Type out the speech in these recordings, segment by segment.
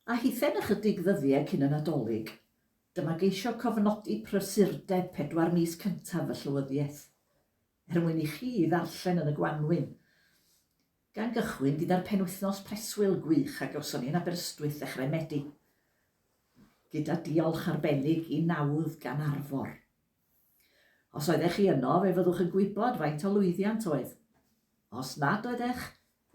A hithau'n ychydig ddyddiau cyn y Nadolig, dyma geisio cofnodi prysurdeb pedwar mis cyntaf y Llywyddiaeth, er mwyn i chi ei ddarllen yn y gwanwyn. Gan gychwyn gyda'r penwythnos preswyl gwych a gawson ni yn Aberystwyth ddechrau Medi, gyda diolch arbennig i nawdd gan Arfor. Os oeddech chi yno, fe fyddwch yn gwybod faint o lwyddiant oedd. Os nad oeddech,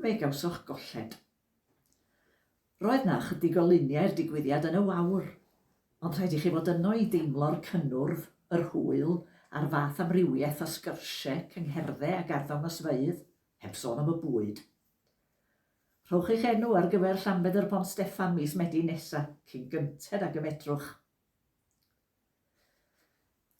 fe gawsoch golled. Roedd 'na ychydig o luniau i'r digwyddiad yn y wawr, ond rhaid i chi fod yno i deimlo'r cynnwrf, yr hwyl, a'r fath amrywiaeth o sgyrsie, cyngherddau ac arddangosfeydd, heb sôn am y bwyd. Rhowch eich enw ar gyfer Llanbedr Pont Steffan mis Medi nesa, cyn gynted ag y medrwch.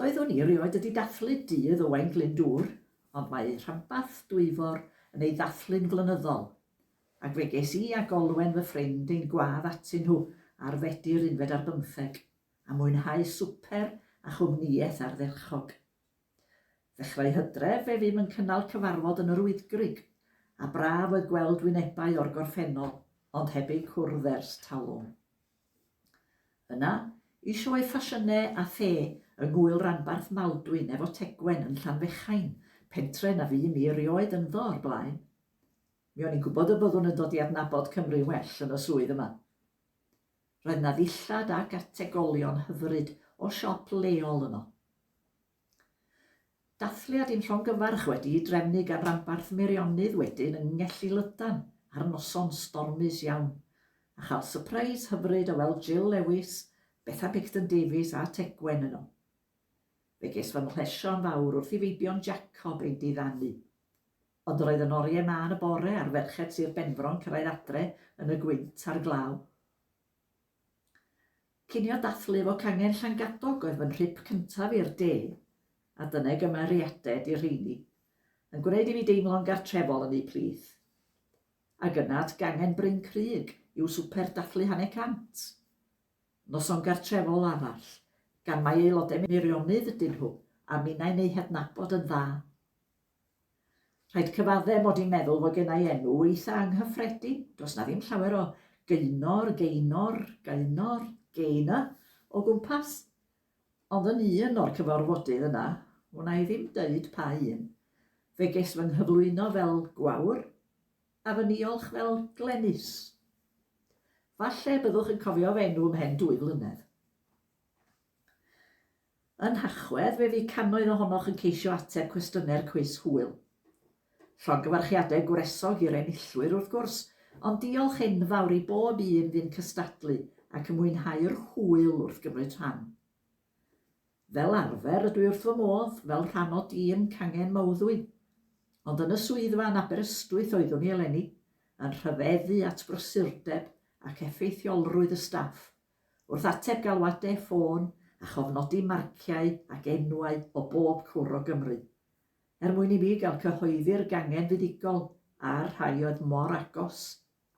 Doeddwn i erioed wedi dathlu dydd Owain Glyndŵr, ond mae eu rhanbarth Dwyfor yn ei ddathlu'n flynyddol, ac fe ges i ac Olwen fy ffrind ein gwadd atyn nhw ar Fedi'r unfed ar bymtheg, a mwynhau swper a chwmnïaeth ardderchog. Ddechrau Hydref fe fum yn cynnal cyfarfod yn yr Wyddgrug, a braf oedd gweld wynebau o'r gorffennol, ond heb eu cwrdd ers talwm. Yna, y sioe ffasiynau a the yng ngŵyl ranbarth Maldwyn efo Tegwen yn Llanfechain, pentre na fu mi erioed ynddo o'r blaen. Mi o'n i'n gwybod y byddwn yn dod i adnabod Cymru'n well yn y swydd yma. Roedd 'na ddillad ac ategolion hyfryd o siop leol yno. Dathliad i'n llongyfarch wedi'i drefnu gan ranbarth Meirionnydd wedyn yng Ngelli Lydan ar noson stormus iawn, a chael sypreis hyfryd o weld Jill Lewis, Betha Picton Davies a Tegwen yno. Fe ges fy mhlesio yn fawr wrth i Feibion Jacob ein diddanu. Ond yr oedd yn oriau mân y bore ar ferched Sir Benfro'n cyrraedd adre yn y gwynt a'r glaw. Cinio dathlu fo cangen Llangadog oedd fy nhrip cyntaf i'r de, a dyna i gymeriaded i'r rheini, yn gwneud i fi deimlo'n gartrefol yn eu plith. Ag yna at gangen Bryn Crug i'w swper dathlu Hanner Cant. Noson gartrefol arall, gan mai aelodau Meirionnydd ydyn nhw, a minnau'n eu hadnabod yn dda. Rhaid cyfaddef mod i'n meddwl fod gennai enw eitha anghyffredin, does 'na ddim llawer o Gaenor, Gaenor, Gaenor, Gaynor o gwmpas. Ond yn un o'r cyfarfodydd yna, wna i ddim deud pa un, fe ges fy nghyflwyno fel Gwawr, a fy niolch fel Glenys. Falle byddwch yn cofio fy enw ymhen dwy flynedd. Yn Nhachwedd, fe fu cannoedd ohonoch yn ceisio ateb cwestiynau'r cwis hwyl. Llongyfarchiadau gwresog i'r enillwyr, wrth gwrs, ond diolch enfawr i bob un fu'n cystadlu ac yn mwynhau'r hwyl wrth gymryd rhan. Fel arfer, rydw i wrth fy modd, fel rhan o dîm Cangen Mawddwy. Ond yn y swyddfa yn Aberystwyth oeddwn i eleni, yn rhyfeddu at brysurdeb ac effeithiolrwydd y staff, Wrth ateb galwadau ffôn a chofnodi marciau ac enwau o bob cwr o Gymru. Er mwyn i mi gael cyhoeddi'r gangen fuddugol a'r rhai oedd mor agos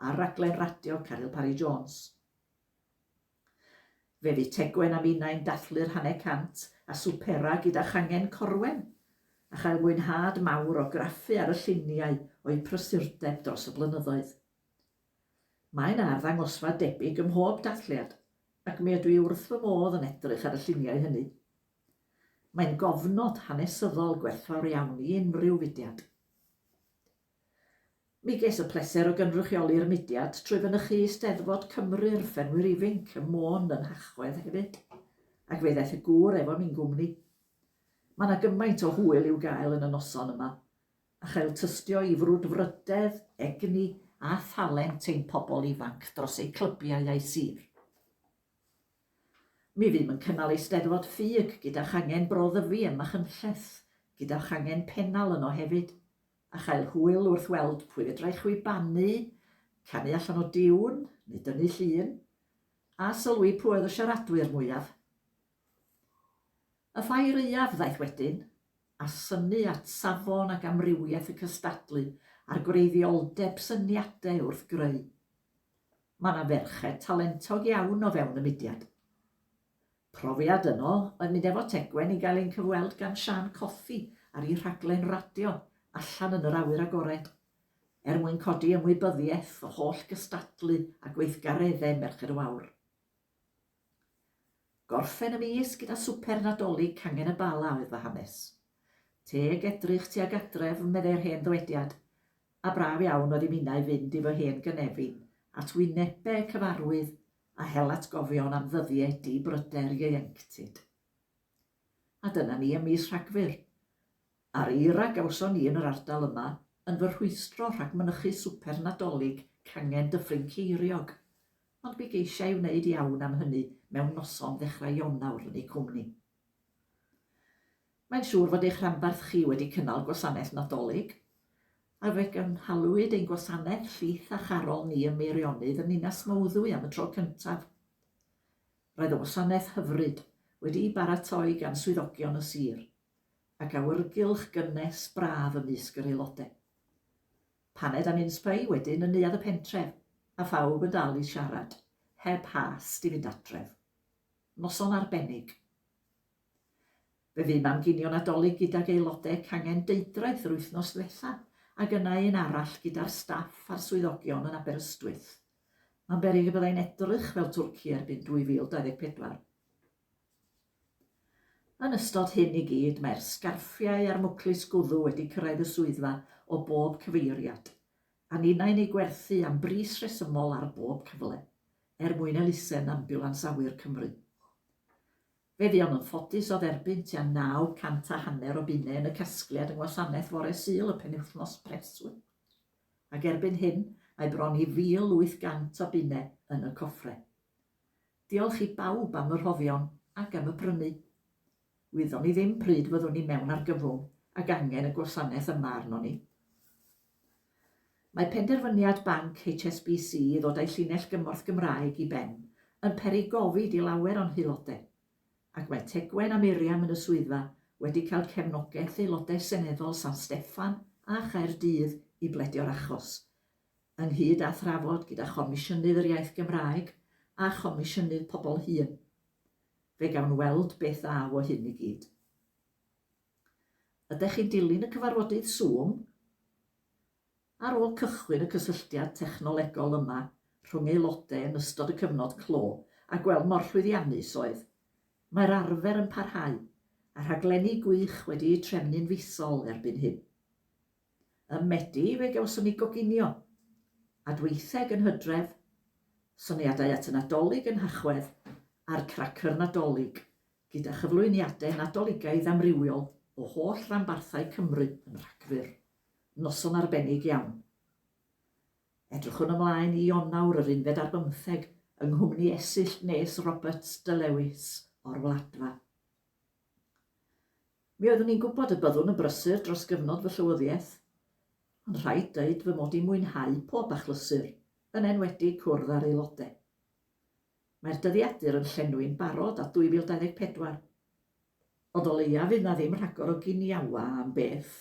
ar raglen radio Caryl Parry Jones. Fe fu Tegwen a minnau'n dathlu'r hanner cant a swpera gyda changen Corwen, a chael mwynhad mawr o graffu ar y lluniau o'u prysurdeb dros y blynyddoedd. Mae 'na arddangosfa debyg ym mhob dathliad, ac mi ydw i wrth fy modd yn edrych ar y lluniau hynny. Mae'n gofnod hanesyddol gwerthfawr iawn i unrhyw fudiad. Mi ges y pleser o gynrychioli'r mudiad trwy fynychu Eisteddfod Cymru i'r ffermwyr ifinc ym Môn yn Nhachwedd hefyd, ac fe ddaeth y gŵr efo mi'n gwmni. Mae 'na gymaint o hwyl i'w gael yn y noson yma, a chael tystio i frwdfrydedd, egni a thalent ein pobl ifanc dros eu clybiau a'u sir. Mi fydd yn cynnal Eisteddfod Ffug gyda changen Bro Ddyfi ym Machynlleth, gyda changen Pennal yno hefyd, a chael hwyl wrth weld pwy fedrai chwibanu, canu allan o diwn, neu dynnu llun, a sylwi pwy oedd y siaradwyr mwyaf. Y ffair aeaf ddaeth wedyn, a synnu at safon ac amrywiaeth y cystadlu a'r gwreiddioldeb syniadau wrth greu. Mae yna ferched talentog iawn o fewn y mudiad. Profiad yno oedd mynd efo Tegwen i gael ein cyfweld gan Siân Cothi ar ei rhaglen radio Allan yn yr Awyr Agored, er mwyn codi ymwybyddiaeth o holl gystadlu a gweithgareddau Merched y Wawr. Gorffen y mis gyda swper Nadolig cangen y Bala oedd fy hanes. Teg edrych tuag adref, meddai'r hen ddywediad, a braf iawn oedd i minnau fynd i fy hen gynefin at wynebe cyfarwydd a hel atgofion am ddyddie di bryder ieuenctid. A dyna ni ym mis Rhagfyr. A'r eira gawson ni yn yr ardal yma yn fy rhwystro rhag mynychu swper Nadolig cangen Dyffryn Ceiriog. Ond mi geisia i wneud iawn am hynny mewn noson ddechrau Ionawr yn ei cwmni. Mae'n siŵr fod eich rhanbarth chi wedi cynnal gwasanaeth Nadolig, a fe gynhaliwyd ein gwasanaeth Llith a Charol ni ym Meirionnydd yn Ninas Mawddwy am y tro cyntaf. Roedd y wasanaeth hyfryd, wedi'i baratoi gan swyddogion y sir, ac awyrgylch gynnes braf ymysg yr aelodau. Paned a minsbei wedyn yn neuadd y pentref, a phawb yn dal i siarad, heb hast i fynd adref. Noson arbennig. Fe fu mam ginio Nadolig gydag aelode cangen Deudraeth yr wythnos ddwetha, ag yna un arall gyda'r staff a'r swyddogion yn Aberystwyth. Mae'n beryg y byddai'n edrych fel Twrci erbyn 2024. Yn ystod hyn i gyd, mae'r sgarffiau a'r mwclis gwddw wedi cyrraedd y swyddfa o bob cyfeiriad, a ninnau'n eu gwerthu am bris rhesymol ar bob cyfle, er mwyn elusen ambiwlans awyr Cymru. Fe fuom yn ffodus o dderbyn tua naw cant a hanner o bunnau yn y casgliad yng Ngwasanaeth Fore Sul y penwythnos preswyl, ac erbyn hyn mae bron i 1,800 o bunnau yn y coffre. Diolch i bawb am y rhoddion ac am y prynu. Wyddon ni ddim pryd fyddwn ni mewn argyfwng ac angen y gwasanaeth yma arnon ni. Mae penderfyniad banc HSBC i ddod â'i llinell gymorth Gymraeg i ben yn peri gofid i lawer o'n haelodau, ac mae Tegwen a Miriam yn y swyddfa wedi cael cefnogaeth Aelodau Seneddol San Steffan a Chaerdydd i bledio'r achos, ynghyd â thrafod gyda Chomisiynydd yr Iaith Gymraeg a Chomisiynydd Pobl Hŷn. Fe gawn weld beth ddaw o hyn i gyd. Ydych chi'n dilyn y cyfarfodydd Zoom? Ar ôl cychwyn y cysylltiad technolegol yma rhwng aelodau yn ystod y cyfnod clo a gweld mor llwyddiannus oedd, mae'r arfer yn parhau, a rhaglenni gwych wedi eu trefnu'n fisol erbyn hyn. Ym Medi fe gawson ni goginio, adweitheg yn Hydref, soniadau at y Nadolig yn Nhachwedd a'r Cracyr Nadolig, gyda chyflwyniadau Nadoligaidd amrywiol o holl ranbarthau Cymru yn Rhagfyr. Noson arbennig iawn. Edrychwn ymlaen i Ionawr yr unfed ar bymtheg yng nghwmni Esill Nes Roberts de Lewis o'r Wladfa. Mi oeddwn i'n gwybod y byddwn yn brysur dros gyfnod fy llywyddiaeth, ond rhaid dweud fy mod i'n mwynhau pob achlysur, yn enwedig cwrdd â'r aelodau. Mae'r dyddiadur yn llenwi'n barod at 2024, ond o leia fydd 'na ddim rhagor o giniawa am beth.